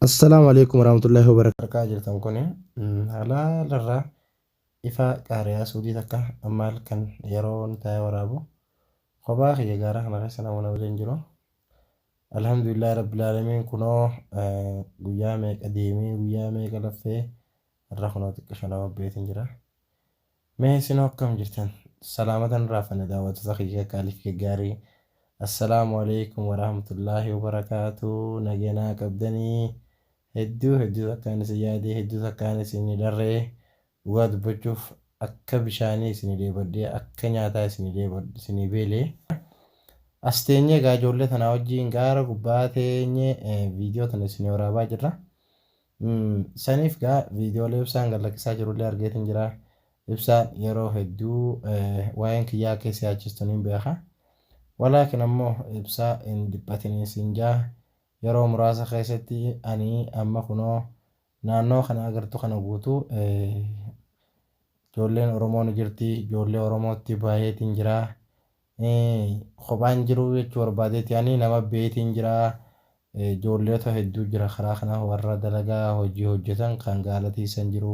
Assalaamu alaikum warahmatullahi wabarakatuh. Harkaa jirtan kun halaalarraa ifaa qaariyaa suudii takka ammaal kan yeroon taa'ee waraabu kophaa kiyya gaara kana keessa nama na waliin jiru. Alhamdulillah rabbil aalamiin kunoo guyyaa meeqa deemee guyyaa meeqa laffee irra kunoo xiqqisho nama beetiin jira. Mee isinoo akkam jirtan salaamatan hin raafanne daawwattoota kiyya qaalii fi gaggaarii Assalaamu Aleeykum Waraahmatullaahi Wabarakaatuh Nagaya naa qabdanii hedduu hedduu takkaan isin yaadee hedduu takkaan isin hin dharre dhugaa dubbachuuf akka bishaanii isin dheebadhee akka nyaataa isin dheebadhe isin beele as teenyee egaa ijoollee tanaa wajjiin gaara gubbaa teenyee viidiyoo tana isin waraabaa jirra Saniif gaa viidiyoolee ibsaan gad lakkisaa jirullee argeetiin jira. Ibsaan yeroo hedduu waa'een kiyyaa akka isa yaachistu niin beeka. Walaakin ammoo ibsaa hin dhiphatinii siin jaa yeroo muraasa keessatti ani amma kunoo naannoo kana agartu kana guutuu ijoolleen Oromoo ni jirti. Ijoollee Oromootti baay'eetiin jira. kophaa hin jiruu jechuu barbaadeeti ani nama beetiin jira joolleota hedduu jira karaa kana warra dalagaa hojii hojjetan kan gaala tiisan jiru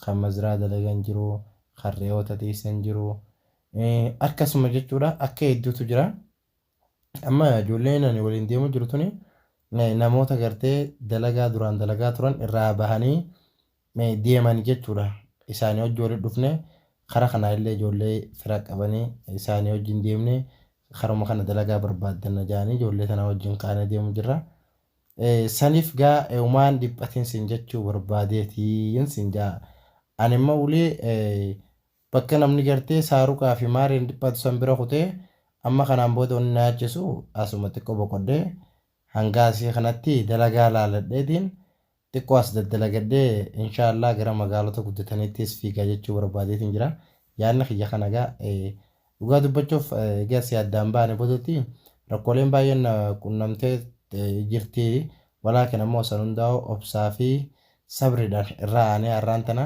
kan mazraa dalagan jiru kan re'oota tiisan jiru akkasuma jechuudha akka hedduutu jira amma joolleen ani waliin deemu jiru tuni namoota gartee dalagaa duraan dalagaa turan irraa bahanii me demani jechudha isani hojji wali dhufne kara kana ille ijole fira qabani isani hojji hin demne karuma kana dalaga barbadda na jani ijole tana hojjin kane demu jirra sanif ga euman dhiphatin sin jechu barbadetin sin ja ani imma wly bakka namni garte saruka fi marin dhiphatu san bira kute amma kanan boda wani na yachisu asuma xiqqo boqodhe hanga asi kanatti dalaga laladhetin Xiqqoo as daddalagadhee inshaa Allaah gara magaalota guddataniittis fiiga jechuu barbaadeetiin jira. Yaadni kiyya kana egaa dhugaa dubbachuuf egaa asii addaan baane boodatti rakkooleen baay'een na qunnamtee jirti. Walaakin ammoo san hundaa'u obsaa fi sabriidhaan irra aanee har'aan tana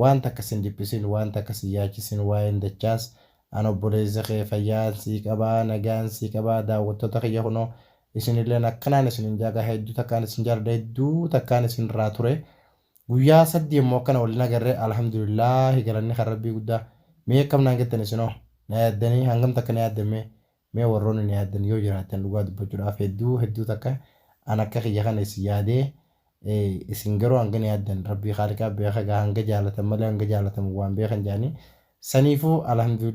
Waan takka sin dhiphisin waan takka sin yaachisin waa'een dachaas an obboleessa kee fayyaan sii qaba nagaan sii qaba daawwattoota kiyya kunoo isinilleen akkanaan isinin jaa gaa hedduu takkaan isin jaaladha hedduu takkaan isin irraa ture guyyaa saddi immoo akkana wal hin agarre alhamdulillaahi galanni kan rabbii guddaa mee akkam naan jettan isinoo na yaaddanii hangam takka na yaaddan mee Mee warroonni na yaaddan yoo jiraattan dhugaa dubbachudhaaf hedduu hedduu takka an akka kiyya kana isin yaadee isin garuu hanga na yaaddan rabbii khaaliqaa beekha egaa hanga jaalatan malee hanga jaalatamu waan beekha hin jaanii saniifuu alhamdulillah